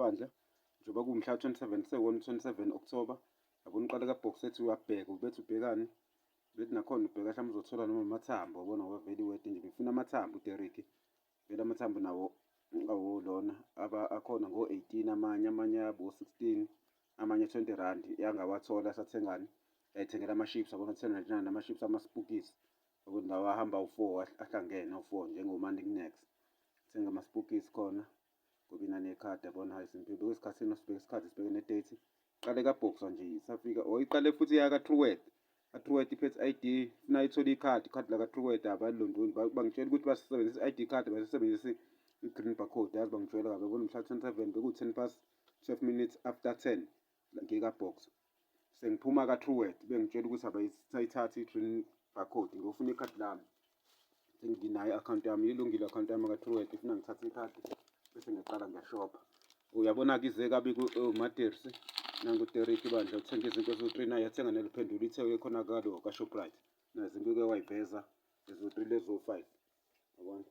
Bandla njengoba kuwumhla 27 sewona 27 October yabona uqale ka box ethi uyabheka ubethi ubhekani bethi nakhona ubheka hlamba uzothola noma amathambo wabona ngoba vele iwede nje befuna amathambo uDerrick vele amathambo nawo awo lona aba akhona ngo 18 amanye amanye abo 16 amanye 20 rand yangawathola sathengani yayithengela ama ships yabona 1099 ama ships ama spookies yabona lawa ahamba u4 ahlangene u4 njengomani next thenga ama spookies khona ngoba inani ekhadi yabona hayi simpilo bheka isikhathi sino sibheke isikhathi sibheke nedate iqale kabhoxa nje isafika or iqale futhi yaka truwet atruwet iphethe ID funa ithole ikhadi ikhadi laka truwet abalondoni bangitshela ukuthi basebenzisa ID card basebenzisa i-green barcode yazi bangijwayela kabi yabona mhla 27 beku-10 past 12 minutes after 10 ngika box sengiphuma ka Truwet bengitshela ukuthi abayithatha i green barcode ngiyofuna ikhadi lami senginayo i-akhawunti yami ilungile i-akhawunti yami ka Truwet ifuna ngithathe ikhadi bese ngiyaqala ngiyashopha uyabona-ke ize kabi kumatersi oh, nanguteriki bandla uthenga izinto eziwu-three naye yathenga neliphendula ithe ekhona kalo kashoprite nazinto uke wayiveza eziwu-three leziwu-five yabona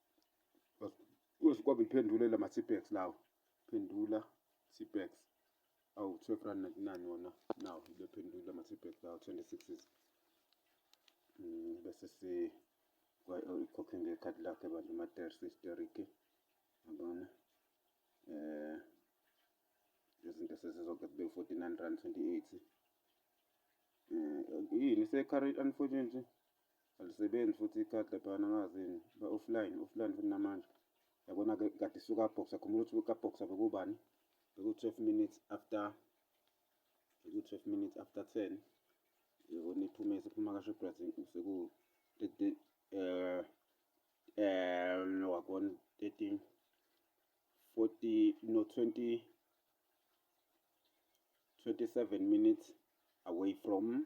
Kwabe ngiphendule la ma-Tipex lawo. Phendula Tipex. Awu 12 rand 99 wona. Nawo ngibephendule ama-Tipex lawo 26. Mm bese si ikhokhe ngekhadi lakhe bandla ama-ter sisterike. Yabona? Eh izinto sezizonke kube 49 rand 28. Eh yini se-current unfortunately Alisebenzi futhi ikhadi laphana angazi yini ba offline offline futhi namanje yabona ke kade suka box akhumbula ukuthi ka box bekubani beku 12 minutes after beku 12 minutes after 10 yabona iphume sephuma ka Shoprite seku eh eh no wakona 13 40 no 20 27 minutes away from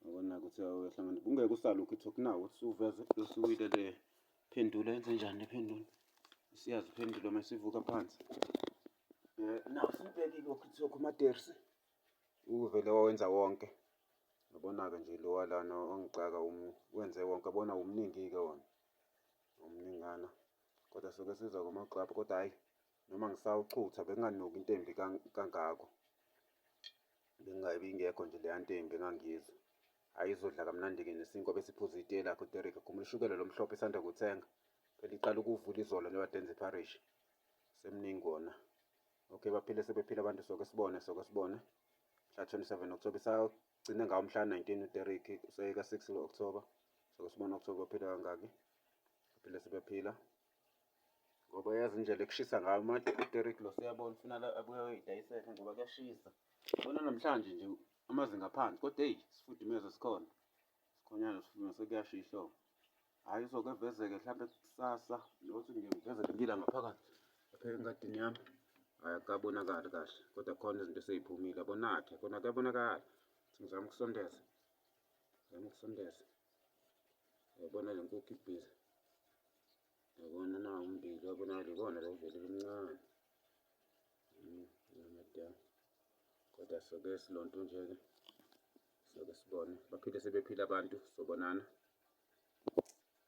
Ngibona ukuthi uyahlangana. Kungeke usale ukhetha okunawo ukuthi uveze usuwile le phendula yenze njani le phendula. Siyazi phendula uma sivuka phansi. Eh nawu sibhekile ukuthi lokho madersi. Uvele wawenza wonke. Ngibona-ke nje lo walana ongixaka wenze wonke bona umningi-ke wona. Umningana. Kodwa soke siza kuma-club kodwa hhayi noma ngisawuchutha benganuki into embi kangako. Bengabe ingekho nje leya nto embi engangiyizwa. Hhayi izodla kamnandi-ke nesinkwa besiphuza itiye lakhe uDerek ekhumula ushukela lo mhlophe esanda kuthenga. Phela iqala ukuvula izolo leyo adenza ipharishi. Semningi wona. Okay baphile sebephila abantu soke sibone soke sibone. Mhla 27 October isagcine ngawo mhla 19 uDerek useyeka 6 lo-October. Soke sibone October baphila kangaki. Baphile sebephila. ngoba yazi indlela ekushisa ngayo manje uDerek lo siyabona ufuna abuye ayoyidayisela ngoba kuyashisa bona namhlanje nje amazinga aphansi kodwa eyi sifudumeza sikhona sikhonyana sifudumeza kuyasha ihlobo hhayi uzoke evezeke mhlawumbe kusasa nokuthi nje ngivezeke ngila ngaphakathi lapha engadini yami hhayi akukabonakali kahle kodwa khona izinto eseyiphumile abonakhe kona kuyabonakala ngizama ukusondeza Ngizama ukusondeza. Yabona le nkukhu ibhizi. Yabona na umbili wabona libona lo vele limncane. Hmm, Namadia. Kodwa soke silonto nje-ke. Soke sibone. Baphinde sebephila abantu sobonana.